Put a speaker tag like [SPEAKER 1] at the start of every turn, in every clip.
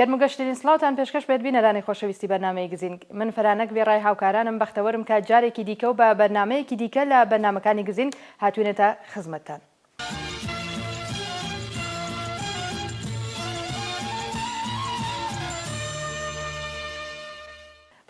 [SPEAKER 1] گەرموگەشترین سڵاوتان پێشکەش بێت بینەرانی خۆشەویستی بەرنامەی گزینگ من فرانک وێڕای هاوکارانم بەختەوەرم کە جارێکی دیکە و بە بەرنامەیەکی دیکە لە بەرنامەکانی گزینگ هاتوینەتە خزمەتتان.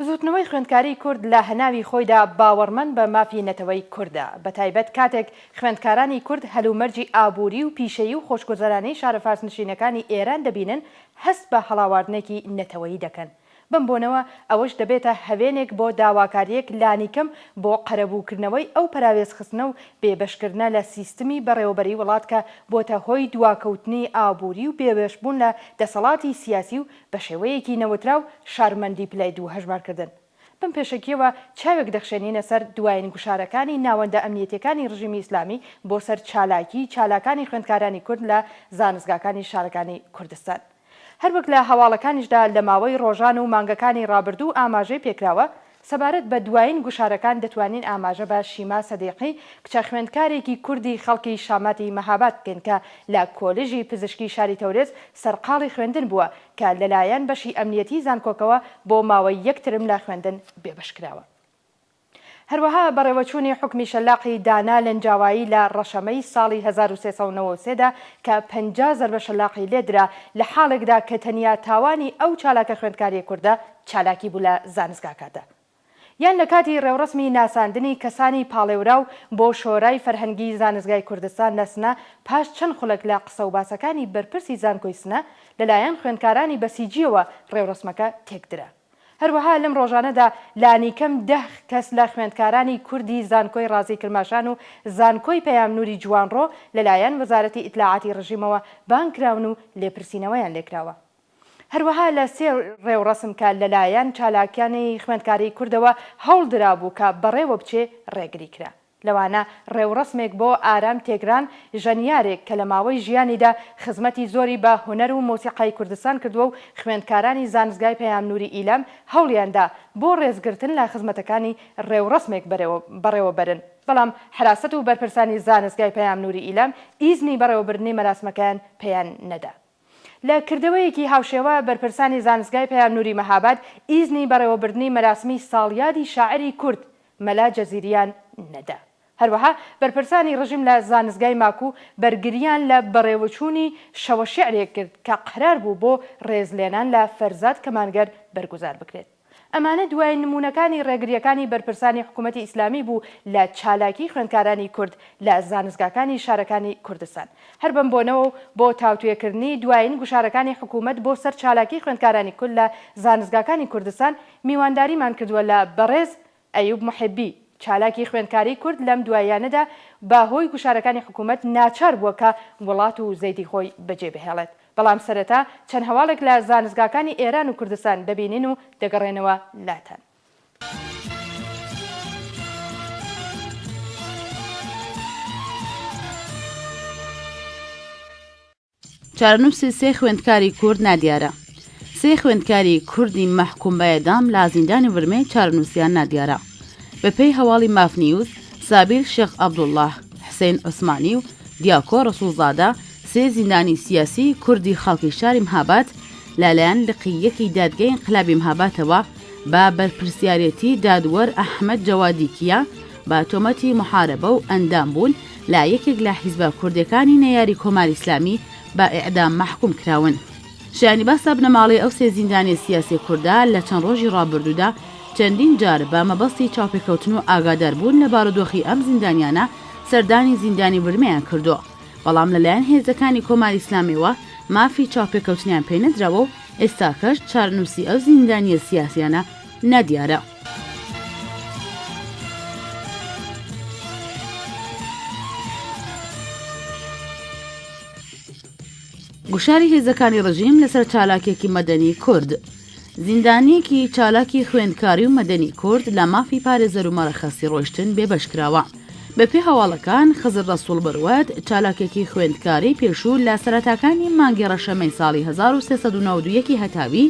[SPEAKER 1] بزووتنەوەی خوێندکاریی کورد لە هەناوی خۆیدا باوەڕمەند بە مافی نەتەوەی کوردە، بەتایبەت کاتێک خوێندکارانی کورد هەلومەرجی ئابووری و پیشەیی و خۆشگوزەرانیی شارە فارسنشینەکانی ئێران دەبینن، هەست بە هەڵاواردنێکی نەتەوەیی دەکەن. بەم بۆنەوە ئەوەش دەبێتە هەوێنێک بۆ داواکارییەک لانیکەم بۆ قەرەبووکردنەوەی ئەو پەراوێزخستنە و بێبەشکردنە لە سیستمی بەڕێوەبەریی وڵات کە بۆتە هۆی دواکەوتنی ئابووری و بێبەشبوون لە دەسەڵاتی سیاسی و بەشێوەیەکی نەوتراو شارمەندی پلەی دوو هەژمارکردن. بەم پێشەکییەوە چاوێک دەخشێنینە سەر دوایین گوشارەکانی ناوەندە ئەمنییەتییەکانی ڕژیمی ئیسلامی بۆ سەر چالاکیی چالاکانی خوێندکارانی کورد لە زانستگاکانی شارەکانی کوردستان. هەروەک لە هەواڵەکانیشدا لە ماوەی ڕۆژان و مانگەکانی ڕابردوو ئاماژەی پێکراوە، سەبارەت بە دوایین گوشارەکان دەتوانین ئاماژە بە شیما سەدیقی کچە خوێندکارێکی کوردی خەڵکی شاماتی مەهاباد بکەین کە لە کۆلیژی پزیشکی شاری تەورێز سەرقاڵی خوێندن بووە کە لەلایەن بەشی ئەمنیەتی زانکۆکەوە بۆ ماوەی یەک ترم لە خوێندن بێبەشکراوە. هەروەها بەڕێوەچوونی حوکمی شەلاقی دانا لەنجاوایی لە ڕەشەمەی ساڵی هەزار و سێ سەد و نەوە و سێ دا کە پەنجا زەربە شەلاقی لێ درا لە حاڵێکدا کە تەنیا تاوانی ئەو چالاکە خوێندکاری کوردە چالاکی بوو لە زانستگاکەدا یان لە کاتی ڕێوڕەسمی ناساندنی کەسانی پاڵێوراو بۆ شۆرای فەرهەنگی زانستگای کوردستان لە سنە پاش چەند خولەک لە قسە و باسەکانی بەرپرسی زانکۆی سنە لەلایەن خوێندکارانی بەسیجییەوە ڕێوڕەسمەکە تێکدرا. هەروەها لەم ڕۆژانەدا لانیکەم دە کەس لە خوێندکارانی کوردی زانکۆی ڕازی کرماشان و زانکۆی پەیام نوری جوانڕۆ لەلایەن وەزارەتی ئیتلاعاتی ڕژیمەوە بانگ کراون و لێپرسینەوەیان لێکراوە هەروەها لە سێ ڕێوڕەسم کە لەلایەن چالاکانی خوێندکاری کوردەوە هەوڵ درابوو کە بەڕێوە بچێ ڕێگری کرا. لەوانە ڕێوڕەسمێک بۆ ئارام تێگران، ژەنیارێک کە لە ماوەی ژیانیدا خزمەتی زۆری بە هونەر و مۆسیقای کوردستان کردووە و خوێندکارانی زانستگای پەیام نووری ئیلام هەوڵیان دا بۆ ڕێزگرتن لە خزمەتەکانی ڕێوڕەسمێک بەڕێوەبەرن بەڵام حەراسەت و بەرپرسانی زانستگای پەیام نووری ئیلام ئیزنی بەڕێوەبردنی مەراسمەکەیان پێیان نەدا. لە کردەوەیەکی هاوشێوە بەرپرسانی زانستگای پەیام نوری مەهاباد ئیزنی بەڕێوەبردنی مەراسمی ساڵیادی شاعیری کورد مەلا جەزیریان نەدا. هەروەها بەرپرسانی ڕژیم لە زانستگای ماکو بەرگریان لە بەڕێوەچوونی شەوەشیعرێک کرد کە قەرار بوو بۆ ڕێزلێنان لە فەرزاد کەمانگەر بەرگوزار بکرێت. ئەمانە دوایین نموونەکانی ڕێگرییەکانی بەرپرسانی حکوومەتی ئیسلامی بوو لە چالاکیی خوێندکارانی کورد لە زانستگاکانی شارەکانی کوردستان. هەر بەم بۆنەوە و بۆ تاوتوێکردنی دوایین گوشارەکانی حکوومەت بۆ سەر چالاکیی خوێندکارانی کورد لە زانستگاکانی کوردستان، میوانداریمان کردووە لە بەڕێز ئەیوب محبی، چالاکی خوێندکاری کورد لەم دواییانەدا بە هۆی گوشارەکانی حکوومەت ناچار بووە کە وڵات و زەیدی خۆی بەجێ بهێڵێت، بەڵام سەرەتا چەند هەواڵێک لە زانستگاکانی ئێران و کوردستان دەبینین و دەگەڕێنەوە لاتان.
[SPEAKER 2] چارەنووسی سێ خوێندکاری کورد نادیارە سێ خوێندکاری کوردی مەحکوم بە ئێدام لە زیندانی ورمێ چارەنووسیان نادیارە. بەپێی هەواڵی ماف نیوز، سابیر شێخ عەبدوڵڵا، حسێن عوسمانی و دیاکۆ ڕەسووڵزادە سێ زیندانی سیاسی کوردی خەڵکی شاری مهاباد لەلایەن لقی یەکی دادگەی ئینقلابی مهاباتەوە بە بەرپرسیارێتی دادوەر ئەحمەد جەوادی کیا بە تۆمەتی محارەبە و ئەندامبوون لە یەکێک لە حیزبە کوردیەکانی نەیاری کۆماری ئیسلامی بە ئیعدام مەحکوم کراون. شایانی باسە بنەماڵەی ئەو سێ زیندانیە سیاسیە کوردە لە چەند ڕۆژی ڕابردوودا چەندین جار بە مەبەستی چاوپێکەوتن و ئاگادار بوون لە بارودۆخی ئەم زیندانیانە سەردانی زیندانی ورمێیان کردووە بەڵام لەلایەن هێزەکانی کۆماری ئیسلامیەوە مافی چاوپێکەوتنیان پێ نەدراوە و ئێستاکەش چارەنووسی ئەو زیندانیە سیاسیانە نادیارە. گوشاری هێزەکانی ڕژیم لەسەر چالاکێکی مەدەنی کورد. زیندانیەکی چالاکی خوێندکاری و مەدەنی کورد لە مافی پارێزەر و مەرەخەسی ڕۆشتن بێبەش کراوە. بەپێ هەواڵەکان خزر ڕسوڵ بەروەت چالاکێکی خوێندکاری پێشوو لە سەرەتاکانی مانگی ڕەشەمەی ساڵی 1992 هەتاوی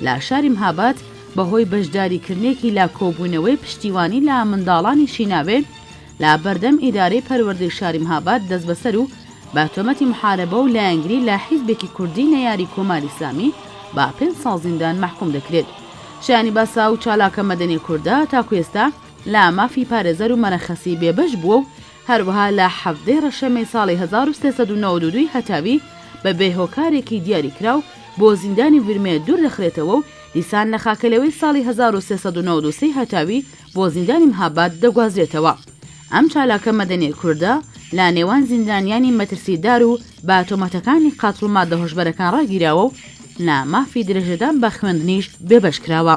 [SPEAKER 2] لە شاری مهاباد بەهۆی بەشداریکردنێکی لە کۆبوونەوەی پشتیوانی لە منداڵانی شیناوێ لە بەردەم ئیدارەی پەروەردەی شاری مهاباد دەستبەسەر و بە تۆمەتی محاربە و لایەنگری لە حیزبێکی کوردی نەیاری کۆماری ئیسلامی بە پێنج ساڵ زیندان مەحکوم دەکرێت. شایانی باسە ئەو چالاکە مەدەنیە کوردە تاکو ئێستا لە مافی پارێزەر و مەرەخەسی بێبەش بووە و هەروەها لە حەڤدەی ڕەشەمەی ساڵی هەزار و سێ سەد و نەوەد و دوو ی هەتاوی بە بێ هۆکارێکی دیاری کراو بۆ زیندانی ورمێ دوور دەخرێتەوە و دیسان لە خاکەلێوەی ساڵی هەزار و سێ سەد و نەوەد و سێ ی هەتاوی بۆ زیندانی مهاباد دەگوازرێتەوە. ئەم چالاکە مەدەنیە کوردە لە نێوان زیندانیانی مەترسی دار و بە تۆمەتەکانی قەتڵ و مادە هۆشبەرەکان ڕاگیراوە و لە مافی درێژەدان بە خوێندنیش بێبەش کراوە.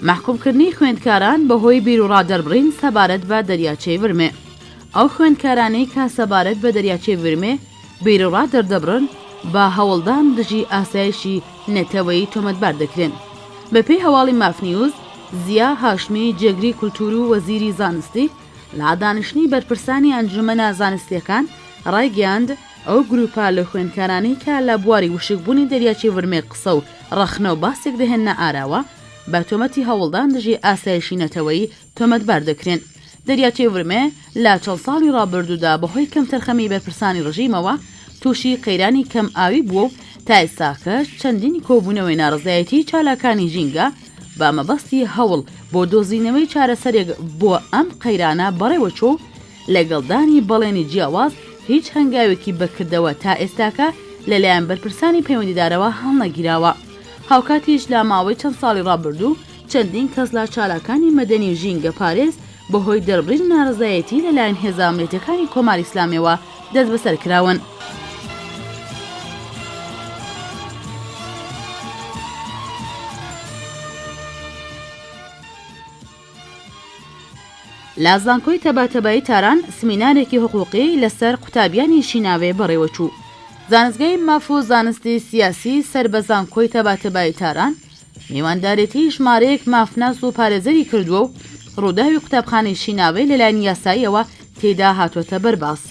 [SPEAKER 2] مەحکوومکردنی خوێندکاران بەهۆی بیروڕادەربڕین سەبارەت بە دەریاچەی ورمێ ئەو خوێندکارانەی کە سەبارەت بە دەریاچەی ورمێ بیروڕا دەردەبڕن بە هەوڵدان دژی ئاسایشی نەتەوەی تۆمەتبار دەکرێن بەپێی هەواڵی مافنیوز زیا هاشمی جێگری کولتور و وەزیری زانستی لە دانیشتنی بەرپرسانی ئەنجومەنە زانستییەکان ڕایگەیاند، ئەو گرووپە لە خوێندکارانەی کە لە بواری وشکبوونی دەریاچەی ورمێ قسە و ڕەخنە و باسێک دەهێننە ئاراوە، بە تۆمەتی هەوڵدان دژی ئاسایشی نەتەوەیی تۆمەتبار دەکرێن. دەریاچەی ورمێ لە چەند ساڵی ڕابردوودا بەهۆی کەمتەرخەمیی بەرپرسانی ڕژیمەوە تووشی قەیرانی کەمئاوی بووە و تا ئێستاکەش چەندین کۆبوونەوەی ناڕەزایەتیی چالاکانی ژینگە بە مەبەستی هەوڵ بۆ دۆزینەوەی چارەسەرێک بۆ ئەم قەیرانە بەڕێوەچوو و لەگەڵ دانی بەڵێنی جیاواز هیچ هەنگاوێکی بەکردەوە تا ئێستاکە لەلایەن بەرپرسانی پەیوەندیدارەوە هەڵنەگیراوە هاوکاتیش لە ماوەی چەند ساڵی ڕابردوو چەندین کەس لە چالاکانی مەدەنی و ژینگەپارێز بەهۆی دەربڕینی نارەزایەتی لەلایەن هێزە ئەمنیتەکانی کۆماری ئیسلامیەوە دەستبەسەر کراون. لە زانکۆی تەباتەبایی تاران سمینارێکی حقوقی لەسەر قوتابیانی شیناوێ بەڕێوەچوو. زانستگای ماف و زانستی سیاسی سەر بە زانکۆی تەباتەبایی تاران میواندارێتی ژمارەیەک مافناس و پارێزەری کردووە و ڕووداوی قوتابخانەی شیناوەی لەلایەن یاساییەوە تێیدا هاتووەتە بەر باس.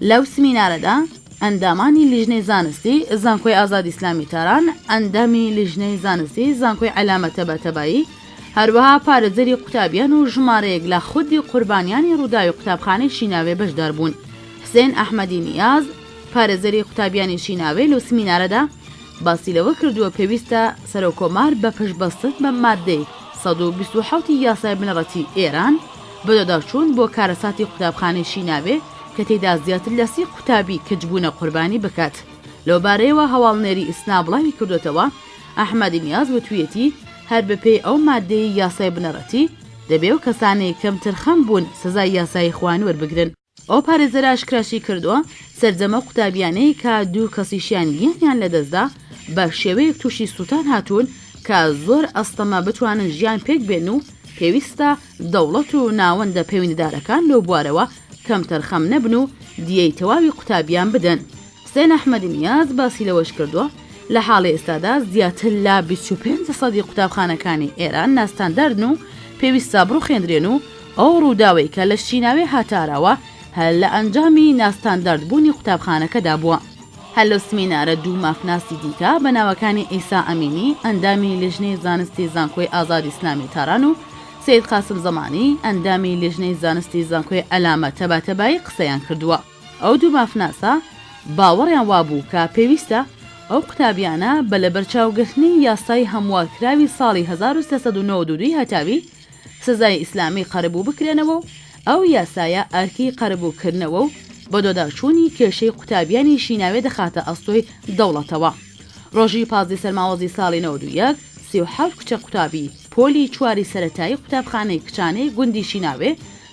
[SPEAKER 2] لەو سمینارەدا ئەندامانی لیژنەی زانستی زانکۆی ئازادی ئیسلامی تاران، ئەندامی لیژنەی زانستی زانکۆی عەلامە تەباتەبایی، هەروەها پارێزەری قوتابیان و ژمارەیەک لە خودی قوربانیانی ڕووداوی قوتابخانەی شیناوێ بەشدار بوون. حسێن ئەحمەدی نیاز، پارێزەری قوتابیانی شیناوێل و سمینارەدا باسی لەوە کردووە پێویستە سەرۆککۆمار بە پشتبەستن بە ماددەی سەد و بیست و حەوت ی یاسای بنەڕەتی ئێران بەدواداچوون بۆ کارەساتی قوتابخانەی شیناوێ کە تێیدا زیاتر لە سی قوتابی کچ بوونە قوربانی بکات لەو بارەیەوە هەواڵنێری ئیسنا بڵاوی کردووەتەوە ئەحمەدی نیاز وتوویەتی هەر بەپێی ئەو ماددەی یاسای بنەڕەتی دەبێ و کەسانی کەمترخەم بوون سزای یاسایی خۆیان وەربگرن. ئەو پارێزەرە ئاشکراشیکردووە، سەرجەمە قوتابیانەی کە دوو کەسیشیان گیانیان لەدەستدا، بە شێوەیەک تووشی سووتان هاتوون کە زۆر ئەستەمە بتوانن ژیان پێکبێنن و پێویستە دەوڵەت و ناوەندە پەیوەندیدارەکان لەو بوارەوە کەمتەرخەم نەبن و دیەی تەواوی قوتابیان بدەن. حسێن ئەحمەدی نیاز باسی لەوەشکردووە، لە حاڵی ئێستادا زیاتر لە بیست و پێنج سەدی قوتابخانەکانی ئێران ناستانداردن و پێویستە بڕوخێندرێن و ئەو ڕووداوەی کە لە شیناوێ هاتاراوە هەر لە ئەنجامی ناستانداردبوونی قوتابخانەکەدا بووە. هەر لەو سمینارە دوو مافناسی دیکە بە ناوەکانی عیسا ئەمینی ئەندامی لیژنەی زانستی زانکۆی ئازادی ئیسلامی تاران و سەید قاسم زەمانی ئەندامی لیژنەی زانستی زانکۆی عەلامە تەباتەبایی قسەیان کردووە. ئەو دوو مافناسە باوەڕیان وابوو کە پێویستە ئەو قوتابیانە بە لەبەرچاوگرتنی یاسای هەموارکراوی ساڵی هەزار و سێ سەد و نەوەد و دوو هەتاوی سزای ئیسلامی قەرەبوو بکرێنەوە و ئەو یاسایە ئەرکی قەرەبووکردنەوە و بەدۆداچوونی کێشەی قوتابیانی شیناوێ دەخاتە ئەستۆی دەوڵەتەوە. ڕۆژی پازدە سەرماوەزی ساڵی نەوەد و یەک، سی و حەوت کچە قوتابی پۆلی چواری سەرەتایی قوتابخانەی کچانەی گوندی شیناوێ،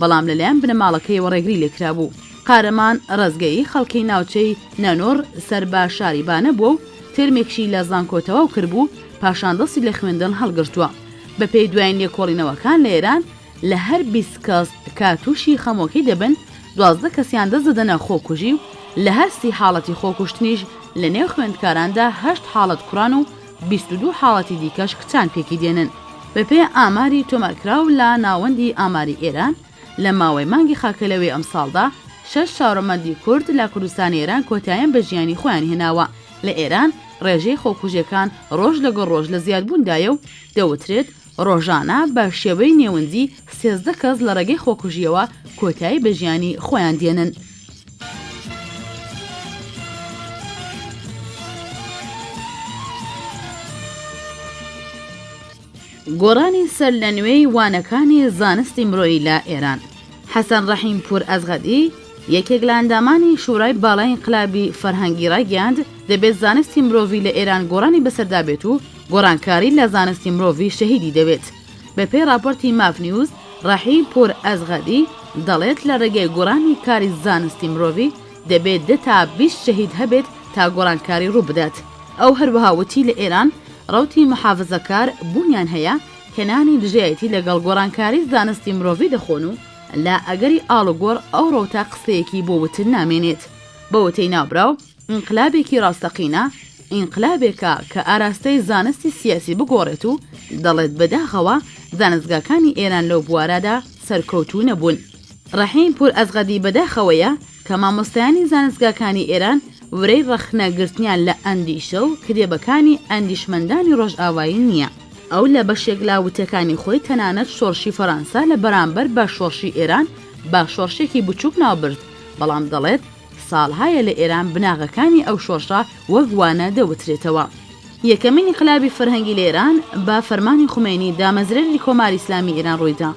[SPEAKER 2] بەڵام لەلایەن بنەماڵەکەیەوە ڕێگری لێکرابوو. قارەمان ڕەزگەیی خەڵکی ناوچەی نەنۆڕ سەر بە شاری بانە بووە و تێرمێکشی لە زانکۆ تەواو کردبوو، پاشان دەستی لە خوێندن هەڵگرتووە. بەپێی دوایین لێکۆڵینەوەکان لە ئێران لە هەر بیست کەس کە تووشی خەمۆکی دەبن، دوازدە کەسیان دەست دەدەنە خۆکوژی و لە هەر سی حاڵەتی خۆکوشتنیش لەنێو خوێندکاراندا هەشت حاڵەت کوڕان و بیست و دوو حاڵەتی دیکەش کچان پێکی دێنن. بەپێی ئاماری تۆمارکراو لە ناوەندی ئاماری ئێران، لە ماوەی مانگی خاکەلەوەی ئەمساڵدا، شەش چوارەمەندی کورد لە کوردستانی ئێران کۆتاییان بە ژیانی خۆیان هێناوە. لە ئێران ڕێژەی خۆکوژییەکان ڕۆژ لەگەڵ ڕۆژ لە زیادبووندایە و دەوترێت، ڕۆژانە بە شێوەی نێوەندی سێزدە کەس لە ڕێگەی خۆکوژییەوە کۆتایی بە ژیانی خۆیان دێنن. گۆڕانی سەرلەنوێی وانەکانی زانستی مرۆیی لە ئێران. حەسەن ڕەحیم پوور ئەزغەدی، یەکێک لە ئەندامانی شوورای باڵای ئینقلابی فەرهەنگی ڕایگەیاند، دەبێت زانستی مرۆڤی لە ئێران گۆڕانی بەسەردا بێت و گۆڕانکاری لە زانستی مرۆڤی شەهیدی دەوێت. بە پێی ڕاپۆرتی ماف نیوز، ڕەحیم پوور ئەزغەدی دەڵێت لە ڕێگەی گۆڕانی کاری زانستی مرۆڤی دەبێت دە تا بیست شەهید هەبێت تا گۆڕانکاری ڕوو بدات. ئەو هەروەها وتی لە ئێران ڕەوتی محافزەکار بوونیان هەیە، هێنانی دژایەتی لەگەڵ گۆڕانکاری زانستی مرۆڤی دەخۆن و لە ئەگەری ئاڵوگۆڕ ئەو ڕەوتە قسەیەکی بۆ وتن نامێنێت. بە وتەی ناوبراو ئینقلابێکی ڕاستەقینە ئینقلابێکە کە ئاراستەی زانستی سیاسی بگۆڕێت و دەڵێت بەداخەوە زانستگاکانی ئێران لەو بوارەدا سەرکەوتوو نەبوون. ڕەحیم پوور ئەسغەدی بەداخەوەیە کە مامۆستایانی زانستگاکانی ئێران ورەی ڕەخنە گرتنیان لە ئەندیشە و کتێبەکانی ئەندیشمەندانی ڕۆژئاوایی نییە. ئەو لە بەشێک لە وتەکانی خۆی تەنانەت شۆڕشی فەرانسە لە بەرامبەر بە شۆڕشی ئێران بە شۆڕشێکی بچووک ناو برد، بەڵام دەڵێت ساڵهایە لە ئێران بناغەکانی ئەو شۆڕشە وەک وانە دەوترێتەوە. یەکەمین ئینقلابی فەرهەنگی لە ئێران بە فەرمانی خومەینی دامەزرێنی کۆماری ئیسلامی ئێران ڕووی دا.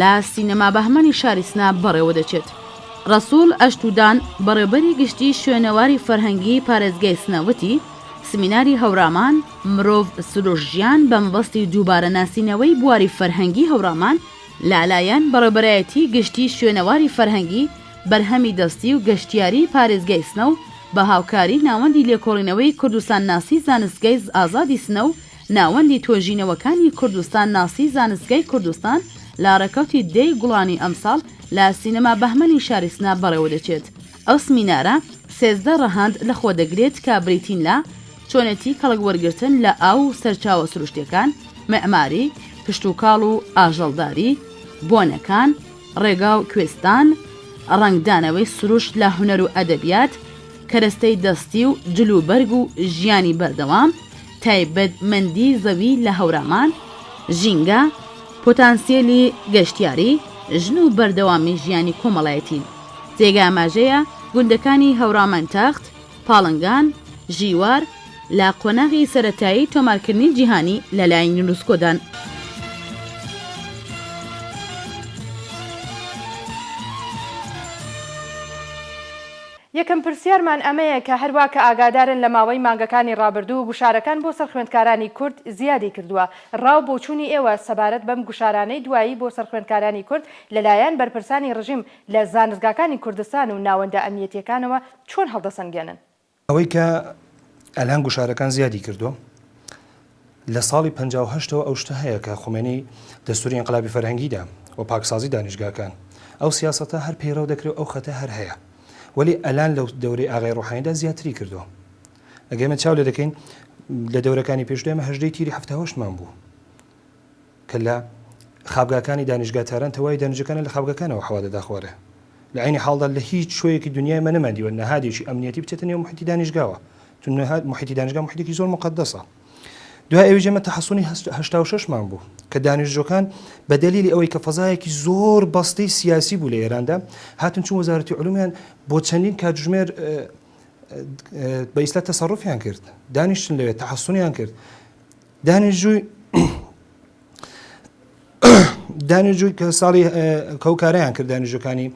[SPEAKER 2] لە سینەما بەهمەنی شاری سنە بەڕێوەدەچێت. رەسوڵ ئەشتودان، بەڕێوبەری گشتیی شوێنەواری فەرهەنگیی پارێزگای سنە وتی، سمیناری هەورامان، مرۆڤ، سروش، ژیان بە مەبەستی دووبارە ناسینەوەی بواری فەرهەنگیی هەورامان لەلایەن بەڕێوبەرایەتیی گشتیی شوێنەواری فەرهەنگی، بەرهەمی دەستی و گەشتیاریی پارێزگای سنە و بە هاوکاریی ناوەندی لێکۆڵینەوەی کوردستانناسیی زانستگای ئازادی سنە و ناوەندی توێژینەوەکانی کوردستان ناسی زانستگای کوردستان لە ڕێکەوتی دە ی گوڵانی ئەمساڵ لە سینەما بەهمەنی شاری سنە بەڕێوەدەچێت ئەو سمینارە سێزدە ڕەهەند لەخۆدەگرێت کە بریتین لە چۆنێتی کەڵک وەرگرتن لە ئاو و سەرچاوە سروشتیەکان، مێعماری، کشتوکاڵ و ئاژەڵداری، بۆنەکان، ڕێگا و کوێستان، ڕەنگدانەوەی سروشت لە هونەر و ئەدەبیات، کەرەستەی دەستی و جلوبەرگ و ژیانی بەردەوام، تایبەت مەندی زەوی لە هەورامان، ژینگە، پۆتانسیەلی گەشتیاری، ژن و بەردەوامی ژیانی کۆمەڵایەتی. جێگە ئاماژەیە گوندەکانی هەورامانتەخت، پاڵنگان، ژیوار لە قۆناغی سەرەتایی تۆمارکردنی جیهانی لە لای یونسکۆدان.
[SPEAKER 1] یەکەم پرسیارمان ئەمەیە کە هەروا کە ئاگادارن لە ماوەی مانگەکانی ڕابردوو گوشارەکان بۆ سەر خوێندکارانی کورد زیادی کردووە، ڕا و بۆچوونی ئێوە سەبارەت بەم گوشارانەی دوایی بۆ سەر خوێندکارانی کورد لە لایەن بەرپرسانی ڕژیم لە زانستگاکانی کوردستان و ناوەندە ئەمنیەتییەکانەوە چۆن هەڵدەسەنگێنن؟ ئەوەی کە
[SPEAKER 3] ئەلان گوشارەکان زیادی کردووە لە ساڵی پەنجا و هەشت ەوە ئەو شتە هەیە کە خومەینی دەستوری ئینقلابی فەرهەنگی دا و پاکسازی دانیشگاکان ئەو سیاسەتە هەر پەیڕەو دەکرێ و ئەو خەتە هەر هەیە وەلی ئەلان لە دەورەی ئاغای روحانی دا زیاتری کردوە ئەگەر ئێمە چاو لێ دەکەین لە دەورەکانی پێشوو دا ئێمە هەژدە ی تیری حەفتا و هەشت مان بوو کە لە خابگاکانی دانیشگا تاران تەواوی دانیشجەکانیان لە خابگاکانەوە حەوا دەداخوارێ. لە عەینی حاڵدا لە هیچ شوێیەکی دونیا ئێمە نەماندیوە نەهادێکی ئەمنیەتی بچێتە نێو موحیتی دانیشگاوە، چون نەهاد موحیتی دانیشگا موحیتێکی زۆر موقەدەسە. دوای ئەویش ئێمە تەحەسونی هەست هەشتا و شەش مان بوو کە دانیشجوەکان بە دەلیلی ئەوەی کە فەزایەکی زۆر بەستەی سیاسی بوو لە ئێراندا هاتن چون وەزارەتی علومیان بۆ چەندین کاتژمێر بە ئیسلا تەسەروفیان کرد دانیشتن لەوێ تەحەسونیان کرد. دانیشتووی کە ساڵی کەو کارەیان کرد دانیشتەکانی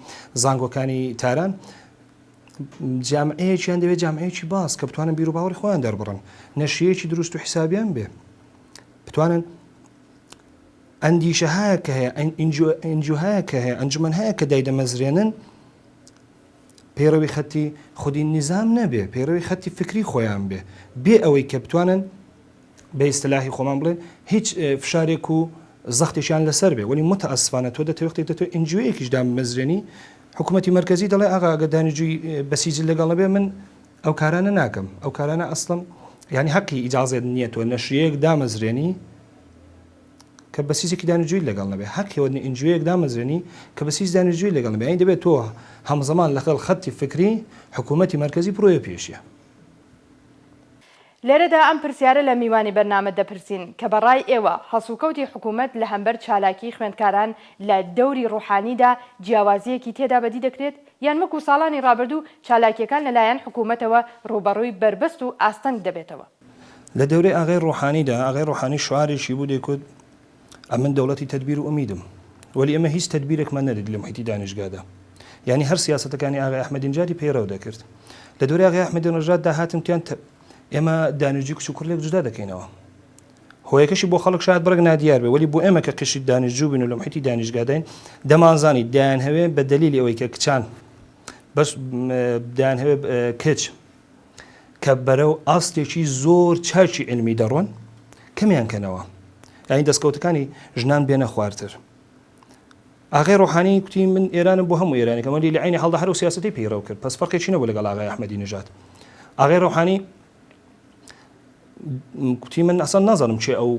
[SPEAKER 3] زانگۆکانی تاران جامعەیەکیان دەوێت جامعەیەکی باز کە بتوانن بیرو باوەڕی خۆیان دەربڕن نەشیەکی دروست و حسابیان بێ بتوانن ئەندیشە هەیە کە هەیە ئەنجوهەیە کە هەیە ئەنجومەن هەیە کە دایدەمەزرێنن پەیڕەوی خەتی خودی نیزام نەبێ، پەیڕەوی خەتی فکری خۆیان بێ، بێ ئەوەی کە بتوانن بە ئیستلاحی خۆمان بڵێن هیچ فشارێک و زەختێکیان لەسەر بێ، وەلی موتەئەسفانە تۆ دەتەوێ وەختێک دەتەوێ ئینجیوێیەکیش دامبمەزرێنی حکوومەتی مەرکەزی دەڵێ ئاغا ئەگەر دانیجووی بەسیجل لەگەڵ نەبێ من ئەو کارانە ناکەم، ئەو کارانە ئەسڵەن یانی هەقی ئیجازەت نییە تۆ نەشریەیەک دامەزرێنی، کە بەس هیچێکی دانیجوی لەگەڵ نەبێ هەر کەوەنی ئنجوەیەک دامەزرێنی کە بەس هیچ دانیجوی لەگەڵ نەبێ ئەین دەبێت تۆ هەمزەمان لەگەڵ خەتی فکری حکوومەتتی مەرکزی پرۆیە پێشە
[SPEAKER 1] لێرەدا ئەم پرسیارە لە میوانی بەرنامە دەپرسین کە بە ڕای ئێوە هەڵسوکەوتی حکوومەت لە هەمبەر چالاکی خوێندکاران لە دەوری ڕوحانیدا جیاوازیەکی تێدا بەدی دەکرێت یان وەکو ساڵانی ڕابردوو چالاکیەکان لە لایەن حکوومەتەوە ڕووبەڕووی بەربەست و ئاستەنگ دەبێتەوە؟ لە دەورەی
[SPEAKER 3] ئاغای ڕۆحانیدا، ئاغای ڕۆحانی شعارێکی بوو دەیکوت، ئەمن دەوڵەتی تەدبیر و ئومیدم. وەلی ئێمە هیچ تەدبیرێکمان نەدیت لە موحیتی دانیشگادا. یانی هەر سیاسەتەکانی ئاغای ئەحمەدی نژادی پەیڕەو دەکرد. لە دەورەی ئاغای ئەحمەدی نژاد دا هاتن وتیان ئێمە دانیشجوی کچ و کوڕ لێک جودا دەکەینەوە. هۆیەکەشی بۆ خەڵک شایەد بڕێک نادیار بێ وەلی بۆ ئێمە کە قشری دانیشجو بووین و لە موحیتی دانیشگاداین دەمانزانی دەیانهەوێ بە دەلیلی ئەوەی کە کچان بەس دەیانهەوێ کچ کە بەرەو ئاستێکی زۆر چاکی علمی دەڕۆن کەمیان کەنەوە یعنی دەستکەوتەکانی ژنان بێنە خوارتر ئاغای ڕۆحانی کوتی من ئێرانم بۆ هەموو ئێرانی کەمەلی لە عینی هەڵدا هەرو سیاستی پیڕەو کرد پس فەرقی چینە بۆ لەگەڵ ئاغای ئەحمەدی نژات ئاغای ڕۆحانی کوتی من ئەسان نازانم چێ ئەو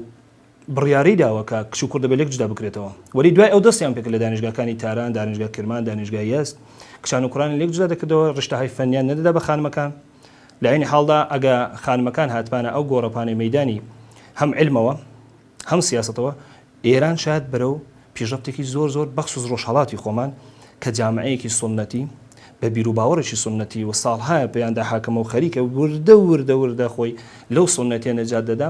[SPEAKER 3] بڕیاری داوە کە کچ و کوڕ دەبێت لێک جودا بکرێتەوە، وەلی دوای ئەو دەستیان پێکرد لە دانیشگاکانی تاران، دانیشگای کرمان، دانیشگای یەزد کچان و کوڕانیان لێک جودا دەکردەوە، ڕشتەهای فەنیان نەدەدا بە خانمەکان، لە عەینی حاڵدا ئەگە خانمەکان هاتبانە ئەو گۆڕەپانەی مەیدانی هەم عیلمەوە هەم سیاسەتەوە، ئێران شایەد بەرەو پیشڕەفتێکی زۆر زۆر بەخسوس ڕۆژهەڵاتی خۆمان کە جامعەیەکی سوننەتی بە بیرو باوەڕێکی سوننەتی و ساڵهایە پێیاندا حاکمە و خەریکە وردە وردە وردە خۆی لەو سوننەتیە نەجات دەدا،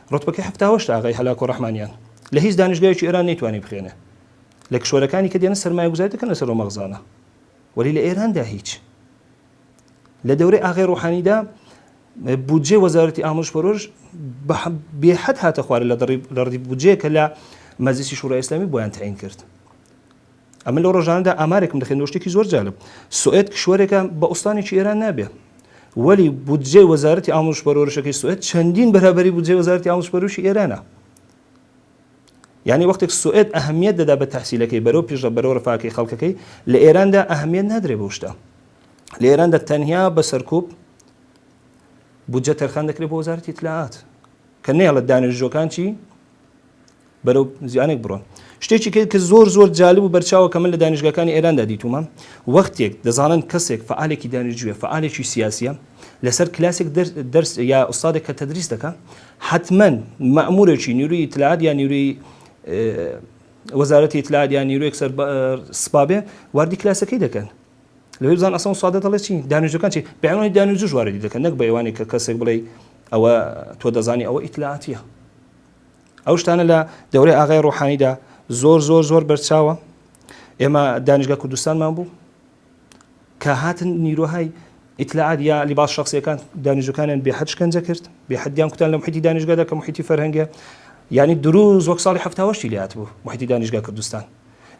[SPEAKER 3] ڕوتبەکەی حەفتا هەشت ئاغای هەلاکۆ ڕەحمانیان لە هیچ دانیشگایەکی ئێران نەیتوانی بخوێنێ لە کشوەرەکانی کە دێنە سەرمایەگوزاری دەکەن لەسەر ئەو مەغزانە وەلی لە ئێراندا هیچ لە دەورەی ئاغای ڕوحانیدا بودجێ وەزارەتی ئامرش پەرۆش بێحەد هاتە خوارە لە دەڕی لە ڕدی بودجێ کە لە مەزیسی شورای ئسلامی بۆیان تعین کرد ئەمن لەو ڕۆژانەدا ئامارێکم دەخێنەوە شتێکی زۆر جالب سوئد کشوەرێکە بە ئوستانێکی ئێران نابێ وەلی بودجەی وەزارەتی ئاموش پەرۆرشەکەی سوئد چەندین بەرابری بودجەی وەزارەتی ئاموش پەروشی ئێرانە یعنی وەختێک سوئد ئەهمیت دەدا بە تحسیلەکەی بەرەو پیشە بەرەو ڕفاکەی خەڵکەکەی لە ئێراندا ئەهمیت نادرێ بە شتە لە ئێراندا تەنیا بە سەرکوب بودجە تەرخان دەکرێت بۆ وەزارەتی اطلاعات کە نێڵە دانیشتوەکان چی بەرەو زیانێک بڕۆن. شتێکی کە کە زۆر زۆر جالب و بەرچاوە کە من لە دانیشگاکانی ئێراندا دیتوومە، وەختێک دەزانن کەسێک فەعالێکی دانیشجوویە، فەعالێکی سیاسییە، لەسەر کلاسێک دەر دەرس یا ئوستادێک کە تەدریس دەکا، حەتمەن مەئموورێکی نیرووی ئیتلاعات یا نیرووی وەزارەتی ئیتلاعات یا نیرووێک سەر بە سپا بێ، واردی کلاسەکەی دەکەن. لەوێ بزان ئەسڵەن ئوستادە دەڵێ چی؟ دانیشجووەکان چی؟ بە عینوانی دانیشجووش واردی دەکەن، نەک بە عینوانی کە کەسێک بڵێی ئەوە تۆ دەزانی ئەوە ئیتلاعاتییە. ئەو شتانە لە دەورەی ئاغای ڕۆحانیدا زۆر زۆر زۆر بەرچاوە ئێمە دانیشگە کوردستانمان بوو کە هاتن نیرۆهای ئیتلاعات یا لیباس شخصیەکان دانیژەکانیان بێ حەج کەنجە کرد بێ حدیان کوتان لە محیتی دانیشگەدا کە محیتی فەرهەنگە ینی دروز وەک ساڵی هەفتاوەشتی لات بوو محیتی دانیشگا کوردستان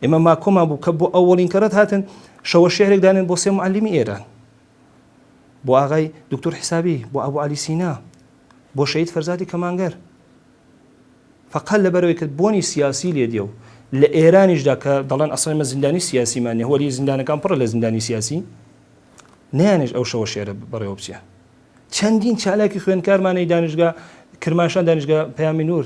[SPEAKER 3] ئێمە ماکۆمان بوو کە بۆ ئەوەڵین کەڕەت هاتن شەوە شعرێک دانێن بۆ سێ معلیمی ئێران بۆ ئاغای دوکتور حسابی بۆ ئەبو عەلی سینا بۆ شەید فەرزادی کەمانگەر فقط لەبەرەوەی کە بۆنی سیاسی لێ دێ و لە ئێرانیشدا کە دەڵێن ئەسڵێن مە زیندانی سیاسیمان نیە وەلی زیندانەکان پڕە لە زیندانی سیاسی نیانش ئەو شەوە شێرە بەڕێوە بچێ چەندین چالاکی خوێنکارمانەی دانیشگا کرماشان دانیشگا پەیامی نور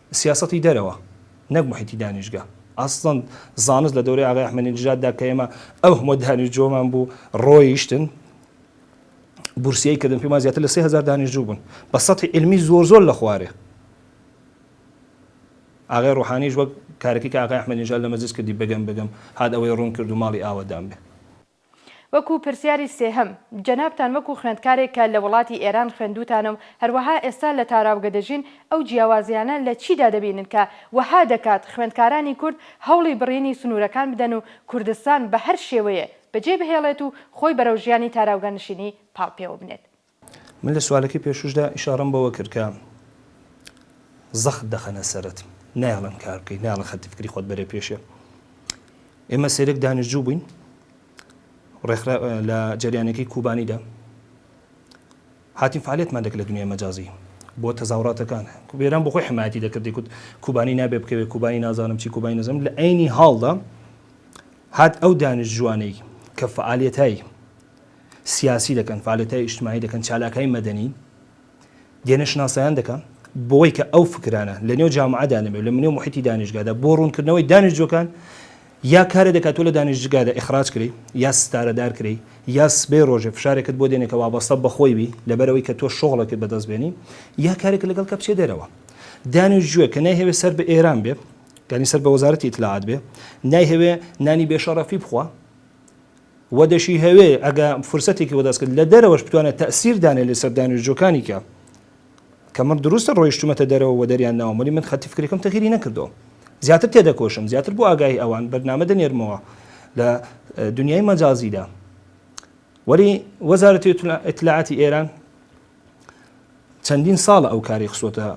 [SPEAKER 3] سیاسەتی دەرەوە نەک موحیتی دانیشگە ئەسڵەن زانست لە دەورەی ئاغای ئەحمەدی نژاددا کە ئێمە ئەو هەموو دانیشجۆمان بوو ڕۆیشتن بورسیەی کردن پێمان زیاتر لە سێ هزار دانیشجو بوون بە سەتی علمی زۆر زۆر لە خوارێ ئاغای ڕۆحانیش وەک کارەکەی کە ئاغای ئەحمەدی نژاد لە مەجلس کردی بەگەم بەگەم هات ئەوەی ڕوون کرد و ماڵی ئاوەدان بێ وەکو
[SPEAKER 1] پرسیاری سێهەم، جەنابتان وەکو خوێندکارێک کە لە وڵاتی ئێران خوێندووتانە و هەروەها ئێستا لە تاراوگە دەژین، ئەو جیاوازییانە لە چیدا دەبینن کە وەها دەکات خوێندکارانی کورد هەوڵی بڕینی سنوورەکان بدەن و کوردستان بە هەر شێوەیێ بەجێ بهێڵێت و خۆی بەرەو ژیانی تاراوگەنشینی پاڵ پێوە بنێت؟ من لە سوالەکەی
[SPEAKER 3] پێشووشدا ئیشارەم بەوە کرد کە زەخت دەخەنە سەرت نایەڵن کار بکەی نایەڵن خەتی فکری خۆت بەرێ پێشێ ئێمە سێرێک دانیشتجو بووین ڕێکخرا لە جریانەکەی کوبانیدا هاتین فعالێتمان دەکرد لە دنیای مەجازی بۆ تەزاوڕاتەکان کوبێران بۆ خۆی حمایەتی دەکردی کوت کوبانی نابێ بکەوێت کوبانی نازانم چی کوبانی نەزم لە عینی هاڵدا هات ئەو دانیش جوانەی کە فعالەتایی سیاسی دەکەن، فعالیتای ئیجتماعی دەکەن، چالاکای مەدەنی دێنە شناسایان دەکەن، بەوەی کە ئەو فکرانە لە نێو جامعەدا نەبێ و لە نێو موحیتی دانیشگادا بۆ ڕوونکردنەوەی دانیشجوەکان یا کارێ دەکا تۆ لە دانیشجگادا ئیخراج کری یا ستارەدار کری یا سبەی ڕۆژێ فشارێکت بۆ دێنێ کە وابەستە بە خۆی بی لەبەرەوەی کە تۆ شۆغڵێکت بەدەست بێنی یا کارێک لەگەڵ کە بچێ دەرەوە دانیشجوێ کە نایهەوێ سەر بە ئێران بێ یعنی سەر بە وەزارەتی ئیتلاعات بێ نایهەوێ نانی بێشەڕەفی بخوا و دەشیهەوێ ئەگە فرسەتێکی وەدەست کرد لە دەرەوەش بتوانێ تەئسیر دانێ لەسەر دانیشجوەکانی کە کە من دروستە ڕۆیشتومەتە دەرەوە و دەریان ناوم وەلی من خەتی فکریەکەم تەغیری نەکردوە زیاتر تێدەکۆشم زیاتر بۆ ئاگاهی ئەوان بەرنامە دەنێرمەوە لە دنیای مەجازیدا وەلی وەزارەتی ئیتلاعاتی ئێران چەندین ساڵە ئەو کاری خستووەتە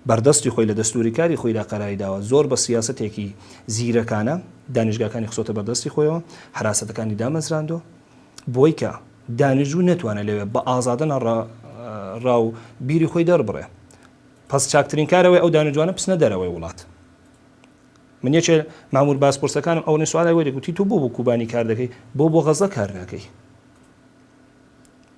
[SPEAKER 3] بەردەستی خۆی لە دەستوری کاری خۆیدا قەراری داوە زۆر بە سیاسەتێکی زیرەکانە دانیشگاکانی خستووەتە بەردەستی خۆیەوە حراسەتەکانی دامەزراندوە بۆی کە دانیژوو نەتوانێت لەوێ بە ئازادەنە ڕا و بیری خۆی دەربڕێ پس چاکترین کارەوەی ئەو دانیجوانە پسنە دەرەوەی وڵات من یەکێ مامور باسپرسەکانم ئەو نسوارای وەری گوتی تو بۆ بۆ کوبانی کار دەکەی بۆ بۆ غەزە کار ناکەی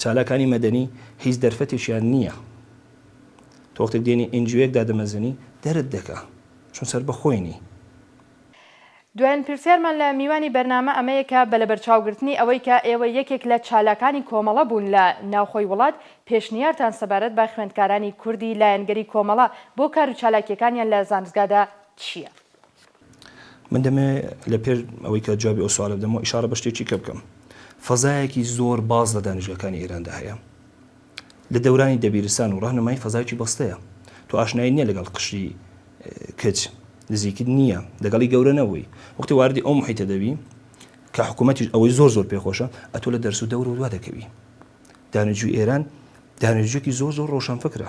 [SPEAKER 3] چالاکانی مەدەنی هیچ دەرفەتێکیان نییە تۆ وەختێک دێنی ئێنجیۆیەک دادەمەزرێنی دەرت دەکا چون سەربەخۆی نی.
[SPEAKER 1] دوایین پرسیارمان لە میوانی بەرنامە ئەمەیە کە بە لەبەرچاوگرتنی ئەوەی کە ئێوە یەکێک لە چالاکانی کۆمەڵە بوون لە ناوخۆی وڵات پێشنیارتان سەبارەت بە خوێندکارانی کوردی لایەنگری کۆمەڵە بۆ کار و چالاکیەکانیان لە زانستگادا چییە؟
[SPEAKER 3] من دەمەوێت لە پێش ئەوەی کە جوابی ئەو سوالە بدەمەوە ئیشارە بە شتێکی کە بکەم فەزایەکی زۆر باز لە دانیشگەکانی ئێراندا هەیە لە دەورانی دەبیرستان و ڕەهنمای فەزایکی بەستەیە تو ئاشنایی نییە لەگەڵ قشری کچ نزیکت نییە لەگەڵی گەورە نەبووی وەختی واردی ئەو محیتە دەبی کە حکوومەتیش ئەوەی زۆر زۆر پێخۆشە ئەتۆ لە دەرس و دەور و دوا دەکەوی دانیجوی ئێران دانیجوێکی زۆر زۆر ڕۆشنفکرە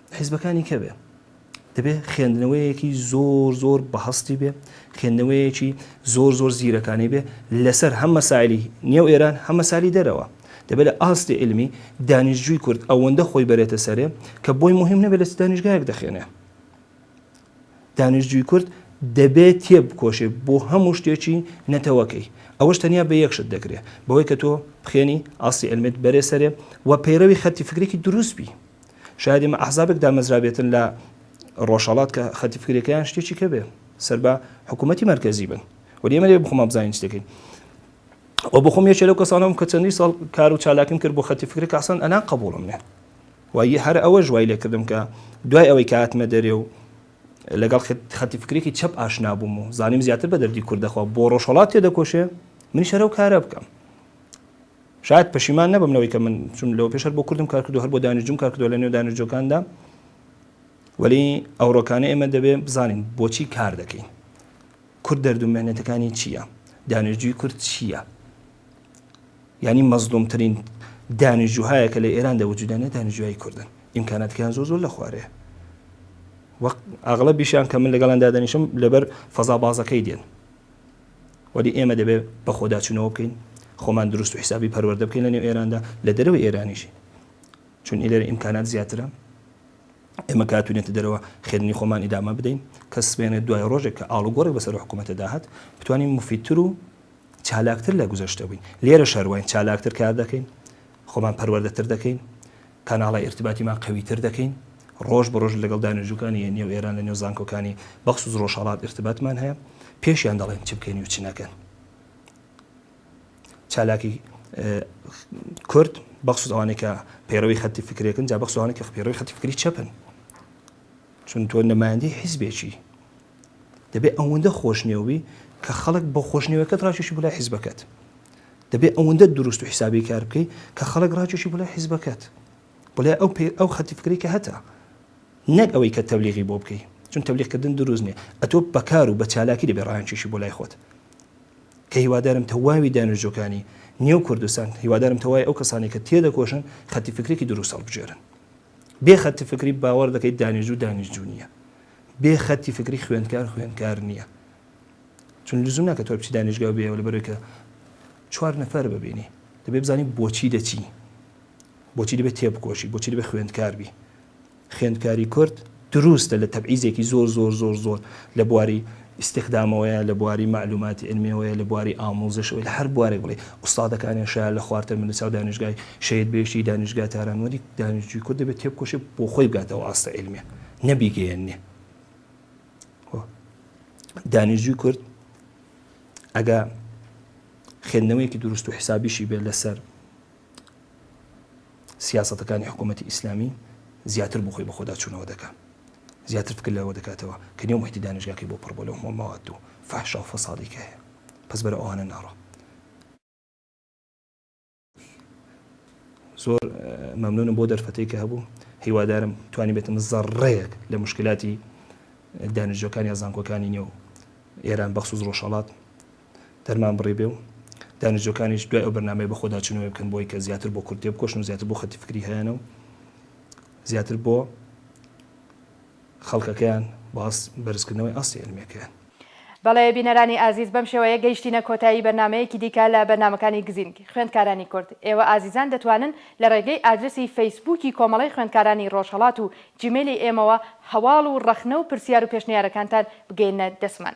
[SPEAKER 3] حیزبەکانی کەوێ دەبێ خێندنەوەیەکی زۆر زۆر بەهەستی بێ خێندنەوەیەکی زۆر زۆر زیرەکانی بێ لەسەر هەم مەسالی نێو ئێران هەم مەسالی دەرەوە دەبێت لە ئاستی علمی دانیشتجووی کورد ئەوەندە خۆی بەرێتە سەرێ کە بۆی مهم نەبێت لە دانیشگایەک دەخێنێ دانیشتجووی کورد دەبێت تێ بکۆشێ بۆ هەموو شتێکی نەتەوەکەی ئەوەش تەنیا بە یەکشت دەکرێت بەوەی کە تۆ بخێنی ئاستی ئەلمێت بەرێ سەرێ و پەیرەوی خەتی فکرێکی دروستبی شایەد ئێمە ئەحزابێک دامەزرابێتن لە ڕۆژهەڵات کە خەتی فکرەکەیان شتێکی کە بێ سەر بە حکوومەتتی مەرکەزی بن و ئێمە لێ بخۆمان بزانین شتەکەین و بخۆم یەکێ لەو کەسانم کە چەندی ساڵ کار و چالاکیم کرد بۆ خەتی فکرە کەسان ئەنا قبولم نێ وای هەر ئەوە ژوای لێ کردم کە دوای ئەوەی کاتمە دەرێ و لەگەڵ خەتی فکرێکی چەپ ئاشنا بووم و زانیم زیاتر بە دەردی کوردەخوا بۆ ڕۆژهڵات تێ دەکۆشێ من شەرە و کارە بکەم شایەد پەشیمان نەبم لەوەی کە من چون لەوەپێش هەر بۆ کوردم کار کردووە، هەر بۆ دانیشتووم کار کردووە لە نێو دانیشتووەکاندا، وەلی ئەوڕۆکانە ئێمە دەبێ بزانین بۆچی کار دەکەین؟ کورد دەرد و مێنەتەکانی چییە؟ دانیشتجووی کورد چییە؟ یعنی مەزلومترین دانیشتجوهایە کە لە ئێران دەوجودانێت دانیشتجوایی کوردن ئیمکاناتکان زۆر زۆر لە خوارێ وەق ئاغڵە بیشیان کە من لەگەڵان دادەنیشم لەبەر فەزا بازەکەی دێن وەلی ئێمە دەبێت بەخۆداچونەوە بکەین خۆمان دروست و حسابی پەروەردە بکەین لەنێو ئێراندا لە دەرەوەی ئێرانیشی چون ئیلێرە ئیمکانات زیاترە ئێمە کاتونێتە دەرەوە خێنی خۆمان ئیدامە بدەین کە سمێنێ دوای ڕۆژێک کە ئاڵوگۆڕێک بەسەر حکوومەتە داهات بتوانین مفیتتر و چالاکتر لە گوزەشتە بووین لێرە شەرواین چالاکتر کار دەکەین خۆمان پەروەردەتر دەکەین کاناڵە ئیرتباتیمان قەویتر دەکەین، ڕۆژ بە ڕۆژ لەگەڵ دانێژوکانی نێو ئێران لە نێو زانکۆکانی بەخسوس ڕۆژهەڵات ئیرتباتمان هەیە، پێشیان دەڵێن چ بکەین و چ نەکەن. چالاکی کورد بەخسوس ئەوانەی کە پەیڕەوی خەتی فکرێکن جا بەخسوانێک کە پەیڕەوی خەتی فکری چەپن چون تۆ نمایندی حیزبێکی دەبێ ئەوەندە خۆشنێوبی کە خەڵک بۆ خۆشنێوەکەت ڕاکێشی بلای حیزبەکەت دەبێ ئەوەندە دروست و حیسابی کار بکەی کە خەڵک ڕاکێشی بلای حیزبەکەت بڵێ ئەو پێ ئەو خەتی فکری کە هەتا نەک ئەوەی کە تەبلیغی بۆ بکەی چون تەبلیغکردن دروست نیە ئەتۆ بەکار و بە چالاکی دەبێ ڕایانکێشی بۆ لای خۆت کە هیوادارم تەواوی دانیشتجۆکانی نێو کوردستان هیوادارم تەوای ئەو کەسانی کە تێدەکۆشن خەتی فکرێکی دروست هەڵبژێرن بێ خەتی فکری باوەڕ دەکەیت دانیژ و دانیژجو نیە بێ خەتی فکری خوێندکار خوێندکار نییە چون لزوم ناکە تۆ بچی دانیشگا بێەوە لە بەرەوەی کە چوار نەفەر ببینی دەبێ بزانانی بۆچی دەچی بۆچی دەبێت تێبکۆشی بۆچی دەبێت خوێندکار بی خوێندکاری کورد دروستە لە تەبعیزێکی زۆر زۆر زۆر زۆر لە بواری ئیستیخدامەوەیە لە بواری مەعلوماتی عیلمیەوەیە لە بواری ئامووزشەوەی لە هەر بوارێک بڵێی ئوستادەکانیان شایە لە خوار تەمەن لەچاو دانیشگای شەهید بەهیشتی دانیشگای تاران وەلی دانیشجوی کورد دەبێت تێبکۆشێ بۆ خۆی بگاتەوە ئاستە عیلمیە نەبیگەیەنێ دانیشجوی کورد ئەگا خوێندنەوەیەکی دروست و حسابیشی بێت لەسەر سیاسەتەکانی حکوومەتی ئیسلامی زیاتر بۆ خۆی بەخۆدا چوونەوە دەکات زیاتر فکر لەوە دەکاتەوە کە نێو محیتی دانیشگاکەی بۆ پڕ بۆ لەو هەموو مەواد و فەحشا و فەسادی کە هەیە پس بەرە ئەوانە ناڕۆ زۆر مەمنونم بۆ دەرفەتی کە هەبوو هیوادارم توانی بێتم زەڕەیەک لە مشکلاتی دانیشجەکانی یا زانکۆکانی نێو ئێران بەخصوص ڕۆژهڵات دەرمان بڕی بێ و دانیشتووەکانیش دوای ئەو بەرنامەیە بە خۆدا چوونەوەی بکەن بۆی کە زیاتر بۆ کورد تێبکۆشن و زیاتر بۆ خەتی فکری هەیانە و زیاتر بۆ خەڵکەکەیان باس بەرزکردنەوەی ئاستی علمیەکەیان. بەڵێ
[SPEAKER 1] بینەرانی ئازیز بەم شێوەیە گەیشتینە کۆتایی بەرنامەیەکی دیکە لە بەرنامەکانی گزینگ خوێندکارانی کورد ئێوە ئازیزان دەتوانن لە ڕێگەی ئادرسی فەیسبووکی کۆمەڵەی خوێندکارانی ڕۆژهەڵات و جیمێلی ئێمەوە هەواڵ و ڕەخنە و پرسیار و پێشنیارەکانتان بگەیەننە دەستمان